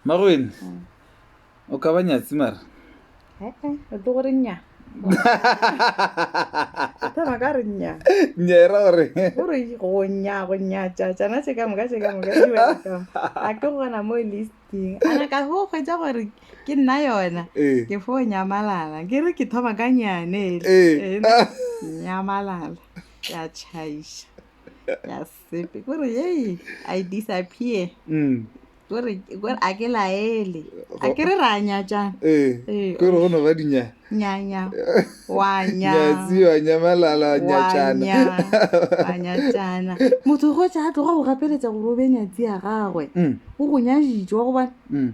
magwene mm. o ka ba nyatsi mara o tlo gore nya thoma ka re nya nya era gore gore go nya go nya tša tsana se ka moka se ka moka di ba ka a ke go gona mo listing ana ka go kgwetsa gore ke nna yona eh. ke fo nyamalala ke re ke thoma ka nyane eh. eh, nyamalala ya chaisha ya sepe kore yei i disappear mm. kore kore a ke laele a ke re ra nyatšang ee Ee, kore go no ba dinya nyanya wa nya nyatsi wa nyamalala wa nyatšana nya wa nyatšana motho go tša a tloga go gapeletša gore o be nyatsi ya gagwe Mm, o go nyaditšwa gobane mm.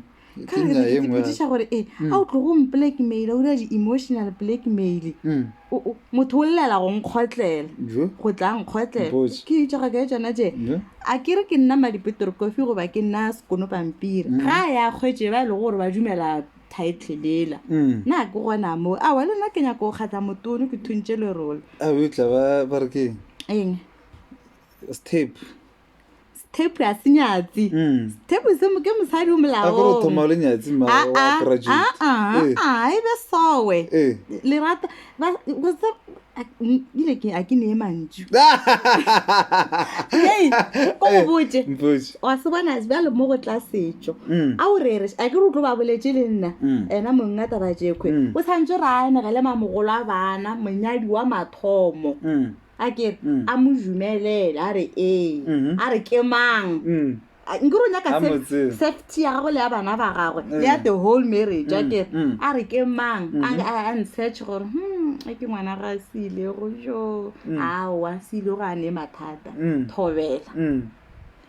ka Ke re nna ne ke e nngwe ya- tsepediša gore e Mm. a o tlogo mpolackmaila o dira di-emotional blackmail Mm. O- o- motho o llela go nkgotlela Bjo? go tla nkgotlela Mpotše. ke itša ga ka e tsona tše Bjo? a ke re ke nna madipetere kofi goba ke nna sekono pampiri Mm. ga a ya kgwetse ba e lego gore ba dumela title lela Mm. na ke gona moo awa le nna ke nyaka go kgatla motono ke thuntše lerole a betla ba ba re ke eng step Step ya se nyatsi. Mm. Step se mo- ke mosadi o a gore o thoma molaong. le nyatsi ma Ah, wa ah, graduate ah, ah, Eh, ah, e be sowe eh. lerata ba go tse- a- m- ile ke a ke ne e mantšu Hey, ko go botše. Eh, mpotše. wa se bona bjale mo go tla setšo Mm. a o rere a ke re o tlo ba boletse le nna Mm. ena mong a taba jekgwe Mm. o tshwanetse re anegele mamogolo a bana monyadi wa mathomo Mm. a ke Mm. a mo dumelele a re ee Mhm. a re ke mang Mm. A- nke ro nyaka A mo saf- tseba. safety ya gagwe le ya bana ba gagwe le ya Mm. the whole marriage a Mm, ke mm. a re ke mang a Mhm. a- a nsearch gore hmm a ke ngwana ga a seilego jo Mm. aowa seilego a ne mathata Mm. thobela Mm.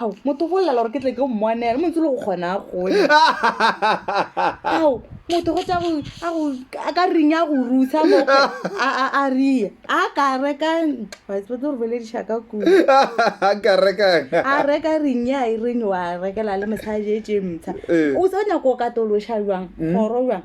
ao motho go llela gore ke tle ke o mmonele montse le go kgona a gole ao motho go tsa a ka reng ya go rusa a rie a ka reka batse go bolediša ka kuaa reka reng ya e reng wa rekela le mosadi e tše mtsha eh. o se o nyako o katološa jwang mm. kgoro jwang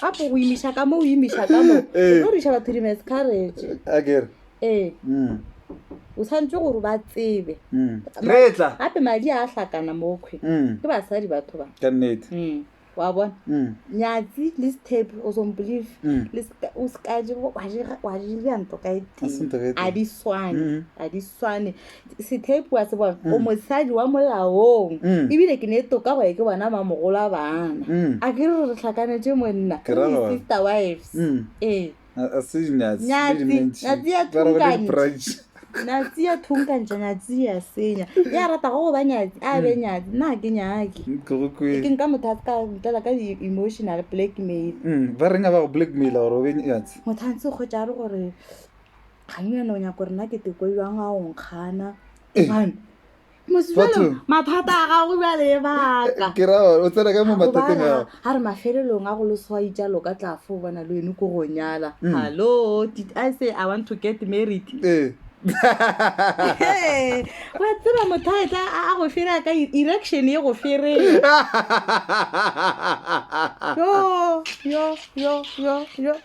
gape go imiša ka mo o imiša ka mo Eh. o tlo riša batho di-miscarriage a kere ee Mm, o tshwanetse gore ba tsebe mm. re tla gape madi a a hlakana mokhwe Mm, ke basadi batho ba ka nnete Mm, wa bona Mm, nyatsi le step o sombelieve mm. le ska- o sekaje wa dira nto ka e A se nto ka e tee tee. a di swane Mm. a di swane sethepu wa se bona o mosadi wa molaong Mm. ebile ke ne e toka gore ke bona mamogolo a bana Mm. a ke re re tlhakanetse monna Ke ra gore- sister wives Mm. ee A- a se dinyatsi, le Nyatsi, dimentši. nyatsi ya Ba re go le thunkantšha. di-branch. nyatsi ya thunkantša nyatsi ya senya ya ratago go ba nyatsi a be nyatsi nna ga ke nyake Mm, ke go kwe. ke nka motho a se ka ntlela ka di-emotional blackmail Mm, ba reng a ba go blackmaila gore o be nyatsi motho a ntse kgotsa a re gore ganyana o nyaka gore nna ke teko jang a o nkgana One. mosalo mathata a gago bjale e baka ke ra gore o tsena ka mo mathateng ao a re mafelelong a go leswai jalo ka tla fo bona le wene ko go nyala Mm. hallo did i say i want to get married ee Hey, wa tseba motho a etla a a go fera ka e- erection ye go fereng yo yo yo yo yo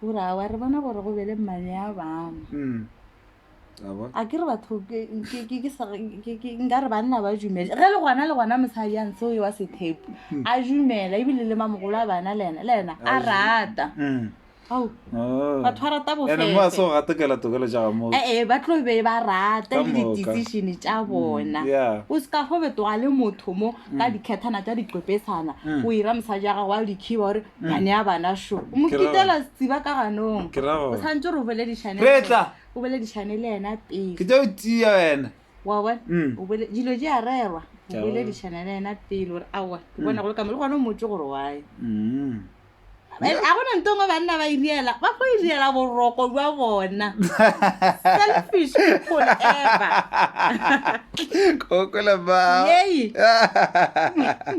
gore a wa re bona gore go be le mmane ya bangwe Mm. A bona? a ke re batho ke- ke- ke- ke sa- ke- ke- nka re banna ba dumele ge le gona le gona mosadi a ntse o ewa sethepo a dumela ebile le mamogolo a bana le ena le ena a rata Mm. ao Oh. batho ba rata Ene mo a se bofefe go gatekela tokelo tša ga moo ee ba tlo be ba rata Ka le moka. di-decision tša bona yeah. o seka fo betoga le motho mo ka dikgethana tša diqepesana Mm. o ira mosadi ya gago wa dikhiba gore Mane a bana šo. O mo kitela setsiba ka ganong. Ke ra gore. O tshwantse gore o boledišane. Re tla. O boledišane le yena pele. Ke tla o tia wena. Wa bona? Mm. O bole dilo di a rerwa. O boledišane le yena pele gore aowa ke mm. bona go le kama le gona o motse gore wae. Mm. Eh, a gona nto ngwe banna ba iriela ba fo iriela boroko jwa bona selfish people ever kokola ba yei